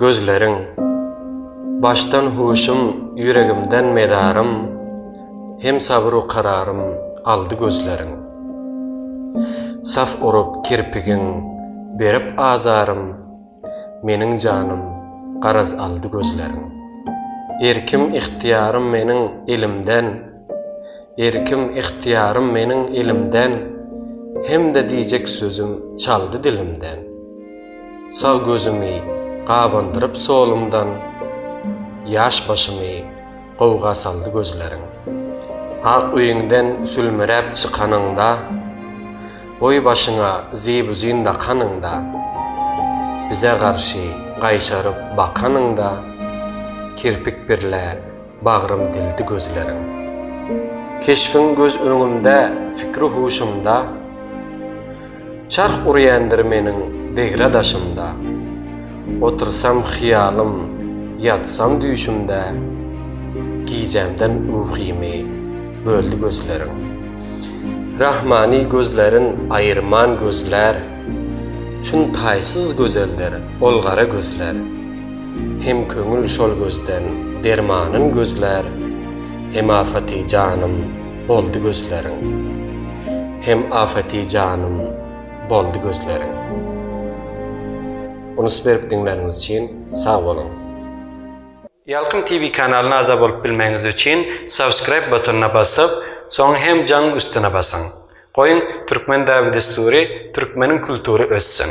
Gözleriň, başdan huşum, ýüregimden mezarym, Hem sabyr-u kararym aldy gözleriň. Saf urup kirpigiň, berip azarym, Meniň janym, garaz aldy gözleriň. Erkim-ygtyýarym meniň elimden. Erkim, ygtyýarym meniň elimden, Hem-de diýjek sözüm çaldy dilimden. Sag gözümi gabandyryp solumdan, Ýaş başymy gowga saldy gözleriň. Ak öýüňden sülmüräp çykanyňda, Goý başyňa zibuzin dakanyňda, Bize garşy gaýşaryp bakanyňda, Kirpik birle Bagrym dildi gözleriň. Keşbiň göz öňümde, fikri-huşumda, Çarh urýandyr meniň degra daşymda. Otursam hyýalym, ýatsam düýşümde, Gijämden ukymy böldi gözleriň. Rahmany gözlerin aýyrman gözlär, Çün taýsyz gözeldir ol gara gözler. Hem köňül şol gözden dermanyn gözlär, Hem afety janym boldy gözleriň. Hem afety janym boldy gözleriň. Unus berip diňläniňiz üçin sag boluň. Ýalkym TV kanalyna agza bolup bilmegiňiz üçin subscribe butonyna basyp, soň hem jaň üstüne basyň. Goýuň Türkmen däbi-dessury, Türkmeniň kultury össün!